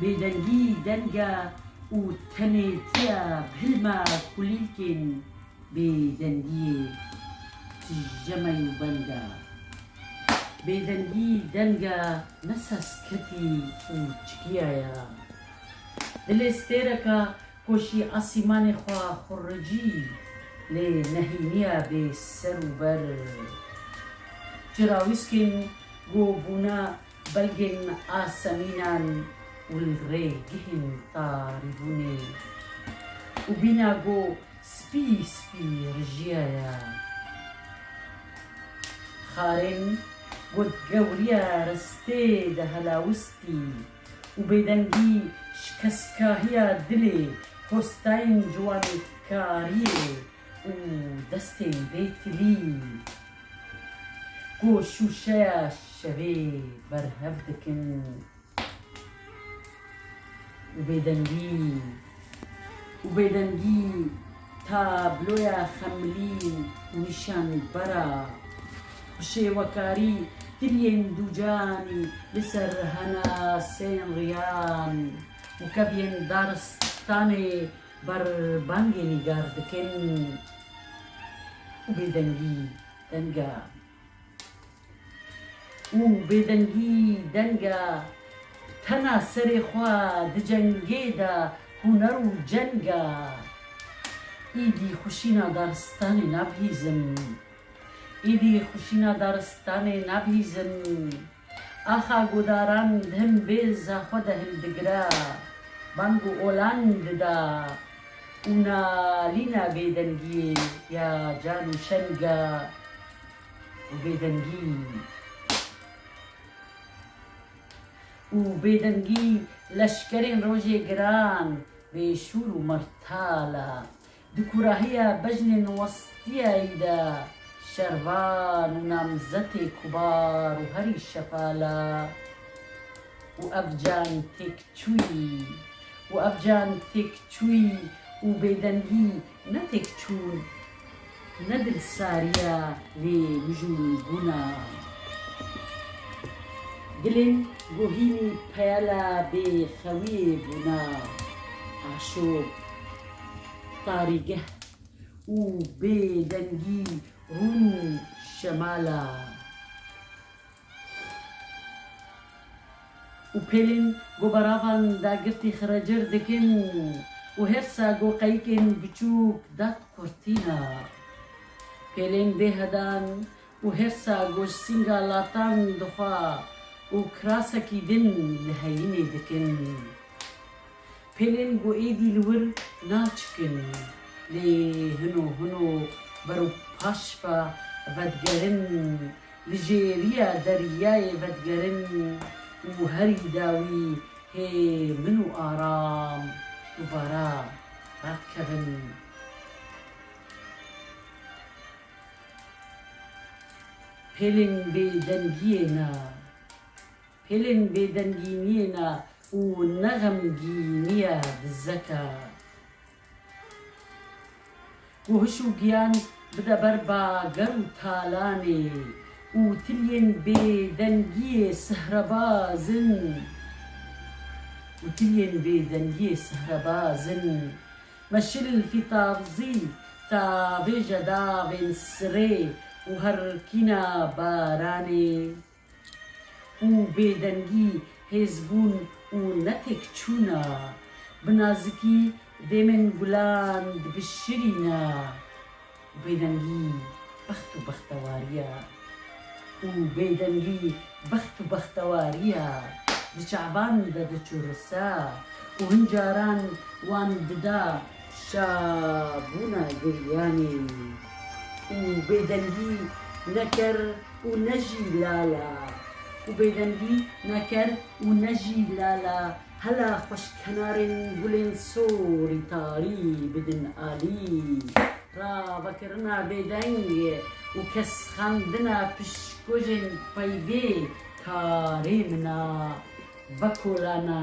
Bêdengî deng e û tenêtî ye bilme kulîlkên bêdengiyê tijeme û beng e. Bêdengî deng e ne sesketî û çikiya ye. Dilê stêreke ku jî asîmanê xwe xuricî lê nehîniye bê ser û ber. Cirawîskên ku bûne Belgên asemînan û li rê gihên tarî bûnê û bîna go spî spî rijîya ya. Xarên go gewrîya ristê de helawistî û bêdengî şikeskahîya dilê postayên ciwanê karîyê Û destên vê tilî ku şûşeya şevê berhev dikin û bêdengî û bêdengî tabloya xemilî û nîşanbera bişêwekarî tiliyên dûcanî li ser henasên riyan û keviyên daristanê Bar bangê nîgar dikin û bêdengî denga û bêdengî denga tena serê xwe di cengê de huner û cenga Îdî xwişîna daristanê nabihîzin Îdî xwişîna daristanê nabihîzin. Axa gudaran him bêza xwe de hildigira, bang û olan dida û nalîna bêdengiyê ya can û şenga û bêdengî û bêdengî leşkerên rojê giran bêşûr û mertal a. Di kurahiya bejnên westiyayî de şervan û namzetê kubar û herî şefala û ev can têkçûyî û ev can têkçûyî û bêdengî ne têkçûn ne dilsariya vê mijûlbûna dilên ku hînî peyela bêxewiyê bûna aşop Tarîgeh û bêdengî rûn şemala û pêlên ku beravan dagirtî xirecir dikin û her sa ku qeyikên biçûk dat kurtîna pêlên bêhedan û her sa ku ji sînga latan dixwa û kirasekî din li heyînê dikin. Pelên ku êdî li wir naçikin lê hino hino ber û paş ve vedigerin, li jê riya deryayê vedigerin û herî dawî hê min û Aram dubara rakevin. Pelên bêdengiyê ne. Hêlên bêdengî nîne û ne xemgî nîye dizeke. Ku hiş û giyan bide ber ba ger û talanê û tiliyên bêdengiyê sihrebaz in û tiliyên bêdengiyê sihrebaz in. Me şil fîtavzî ta vêje davên sirê û herkîna baranê. û bêdengî hêzbûn û netêkçûna, bi nazikî demên gulan dibişirîna û bêdengî bext û bextewarîya û bêdengî bext û bextewarîya di çavan de diçurisa û hin caran wan dida şabûna giryanê û bêdengî neker û ne jî lala û bêdengî ne ker û ne jî lala hela xweş kenarên gulên sorî tarî bidin alî ra vekirina bêdeng û kesxandina pişkojên peybê karê min a vekolana